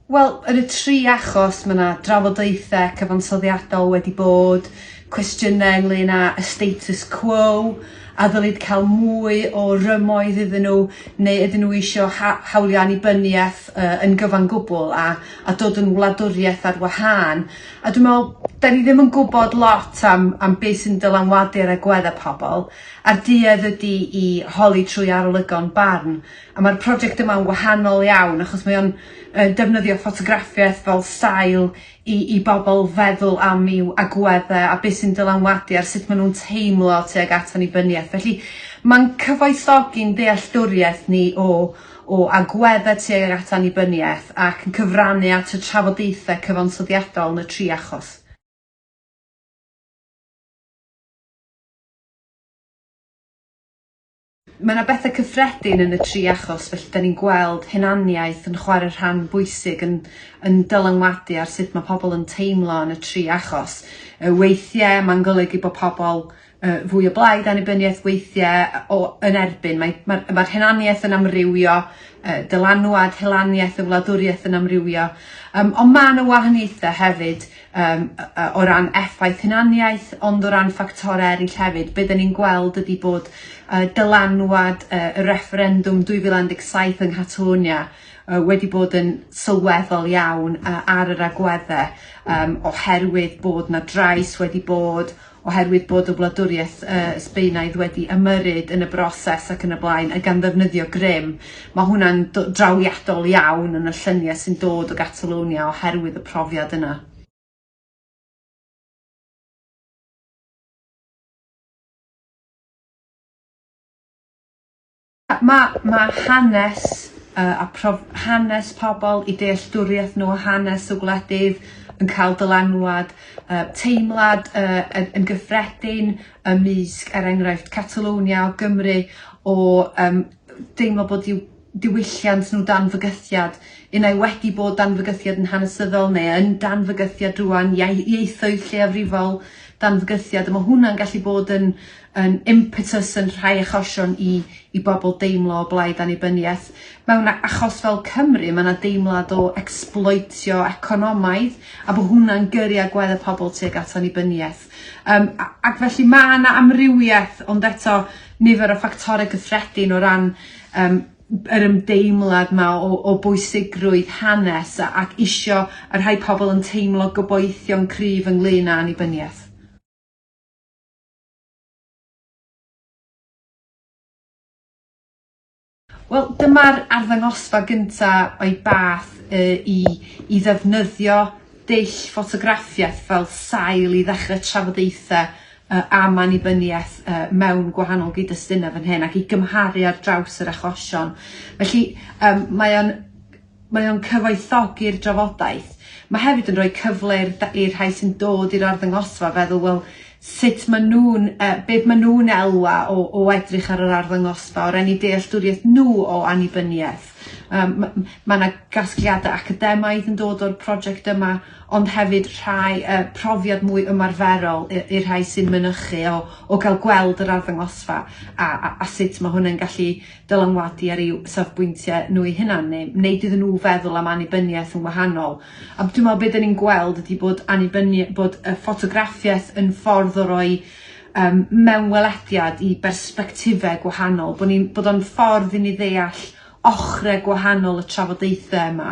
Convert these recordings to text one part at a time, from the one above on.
Wel, yn y tri achos mae yna drafodaethau cyfansoddiadol wedi bod, cwestiynau ynglyn â y status quo, a ddylid cael mwy o rymoedd iddyn nhw, neu ydyn nhw eisiau ha hawliau annibyniaeth uh, yn gyfan gwbl a, a dod yn wladwriaeth ar wahân. A dwi me'wl 'dan ni ddim yn gwbod lot am am be' sy'n dylanwadu ar agwedde pobol, a'r duedd ydi i holi trwy arolygon barn, a ma'r project yma'n wahanol iawn achos mae o'n yy defnyddio ffotograffiaeth fel sail i i bobol feddwl am i'w agwedde a be' sy'n dylanwadu ar sut ma' nw'n teimlo tuag at annibyniaeth felly ma'n cyfoethogi'n dealltwriaeth ni o o agweddau tuag ag at annibyniaeth ac yn cyfrannu at y trafodaethau cyfansoddiadol yn y tri achos. Mae yna bethau cyffredin yn y tri achos felly da ni'n gweld hunaniaeth yn chwarae rhan bwysig yn yn dylanwadu ar sut mae pobl yn teimlo yn y tri achos. Yy weithiau mae'n golygu bod pobl yy fwy o blaid annibyniaeth weithie yy o yn erbyn mae ma'r ma'r hunaniaeth yn amrywio yy dylanwad hulaniaeth y wladwriaeth yn amrywio yym on' ma' 'na wahaniaethe hefyd yym yy yy o ran effaith hunaniaeth ond o ran ffactore eryll hefyd be' 'dyn ni'n gweld ydi bod yy dylanwad yy y refferendwm 2017 yng Nghatalonia yy wedi bod yn sylweddol iawn yy ar yr agwedde yym oherwydd bod 'na drais wedi bod oherwydd bod y wladwriaeth yy Sbaenaidd wedi ymyrryd yn y broses ac yn y blaen, a gan ddefnyddio grym, mae hwnna'n do- drawiadol iawn yn y llyniau sy'n dod o Gatalonia oherwydd y profiad yna. Ma, ma hanes y, a prof, hanes pobl, i dealltwriaeth nhw o hanes y wledydd yn cael dylanwad, y, teimlad y, yn, yn gyffredin ymysg, er enghraifft, Catalwnia o Gymru, o um, deimlo bod i'w diwylliant nhw dan fygythiad, unai wedi bod dan fygythiad yn hanesyddol neu yn dan fygythiad rwan, ieithoedd lleiafrifol dan fygythiad, a mae hwnna'n gallu bod yn, yn impetus yn rhai achosion i i bobl deimlo o blaid annibyniaeth. Mewn a- achos fel Cymru ma' 'na deimlad o ecsbloetio economaidd a bo' hwnna'n gyrru agwedd y pobl tuag at annibyniaeth. Yym a- ac felly ma' 'na amrywieth ond eto nifer o ffactore cyffredin o ran yym yr ymdeimlad 'ma o o bwysigrwydd hanes a- ac isio y rhai pobl yn teimlo gobeithio'n cryf ynglŷn â annibyniaeth. Wel, dyma'r arddangosfa gyntaf o'i bath uh, i, i ddefnyddio dull ffotograffiaeth fel sail i ddechrau trafodaethau uh, am annibyniaeth uh, mewn gwahanol gyd-destunau fan hyn ac i gymharu ar draws yr achosion. Felly, um, mae o'n Mae o'n cyfoethogi'r drafodaeth. Mae hefyd yn rhoi cyfle i'r da- i'r rhai sy'n dod i'r arddangosfa feddwl wel sut ma' nhw'n yy be' ma' nhw'n elwa o o edrych ar yr arddangosfa o ran 'u dealltwriaeth nhw o annibyniaeth. Yym ma' m- ma' 'na gasgliada academaidd yn dod o'r project yma ond hefyd rhai yy profiad mwy ymarferol i i'r rhai sy'n mynychu o o ga'l gweld yr arddangosfa a a a sut ma' hwn yn gallu dylanwadu ar eu safbwyntiau nhw eu hunan neu wneud iddyn nhw feddwl am annibyniaeth yn wahanol. A dwi'n meddwl beth 'da ni'n gweld ydy bod annibyni- bod y ffotograffiaeth yn ffordd o roi um, mewnwelediad i bersbectifau gwahanol, bod, ni, bod o'n ffordd i ni ddeall ochrau gwahanol y trafodaethau yma,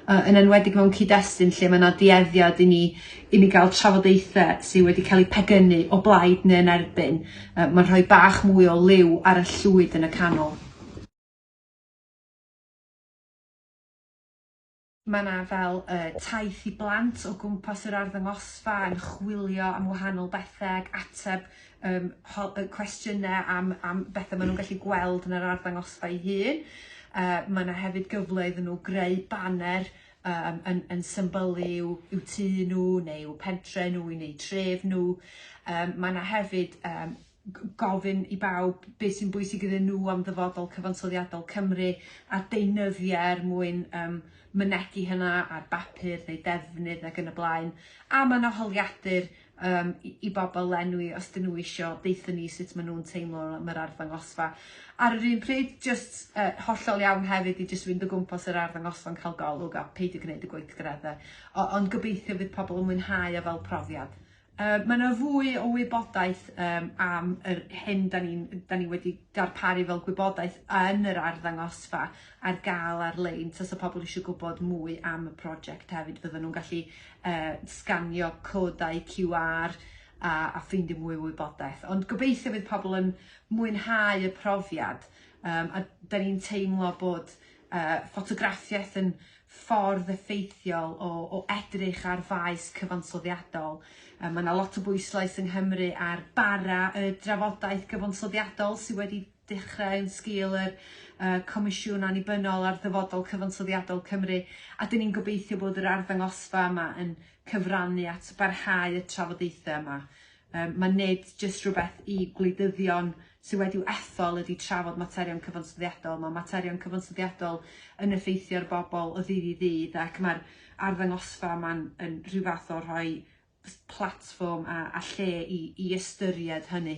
uh, yn enwedig mewn cyd-destun lle mae yna dueddiad i ni i ni gael trafodaethau sydd wedi cael eu pegynnu o blaid neu yn erbyn. Uh, Mae'n rhoi bach mwy o liw ar y llwyd yn y canol. Mae yna fel uh, taith i blant o gwmpas yr arddangosfa yn chwilio am wahanol bethau ac ateb um, cwestiynau am, am bethau maen nhw'n gallu gweld yn yr arddangosfa ei hun. Uh, mae yna hefyd gyfle iddyn nhw greu baner um, yn, yn symbol i'w, i'w tu nhw neu i'w pentre nhw neu tref nhw. Um, mae yna hefyd um, gofyn i bawb beth sy'n bwysig iddyn nhw am ddyfodol cyfansoddiadol Cymru a deunyddiau er mwyn um, mynegi hynna ar bapur neu defnydd ac yn y blaen. A mae yna holiadur um, i, i bobl lenwi os dyn nhw eisiau deithio ni sut maen nhw'n teimlo am yr arddangosfa. Ar yr un pryd, just uh, hollol iawn hefyd i just fynd o gwmpas yr arddangosfa yn cael golwg a peidio gwneud y gweithgareddau. Ond gobeithio fydd pobl yn mwynhau o fel profiad. Uh, mae yna fwy o wybodaeth um, am yr hyn da ni, da ni wedi darparu fel gwybodaeth yn yr arddangosfa ar gael ar-lein. Tos o pobl eisiau gwybod mwy am y prosiect hefyd, fydden nhw'n gallu uh, sganio codau QR a, a ffeindio mwy o wybodaeth. Ond gobeithio fydd pobl yn mwynhau y profiad um, a da ni'n teimlo bod uh, ffotograffiaeth yn ffordd effeithiol o, o edrych ar faes cyfansoddiadol. Um, mae yna lot o bwyslais yng Nghymru ar bara y drafodaeth gyfansoddiadol sydd wedi dechrau yn sgil yr yy Comisiwn Annibynnol ar Ddyfodol Cyfansoddiadol Cymru, a 'dyn ni'n gobeithio bod yr arddangosfa yma yn cyfrannu at barhau y trafodaethau yma. Yym ma' nid jyst rhywbeth i gwleidyddion sydd wedi'w ethol ydy trafod materion cyfansoddiadol, mae materion cyfansoddiadol yn effeithio ar bobl o ddydd i ddydd ac mae'r arddangosfa yma'n yn rhyw fath o rhoi platfform a, a lle i, i ystyried hynny.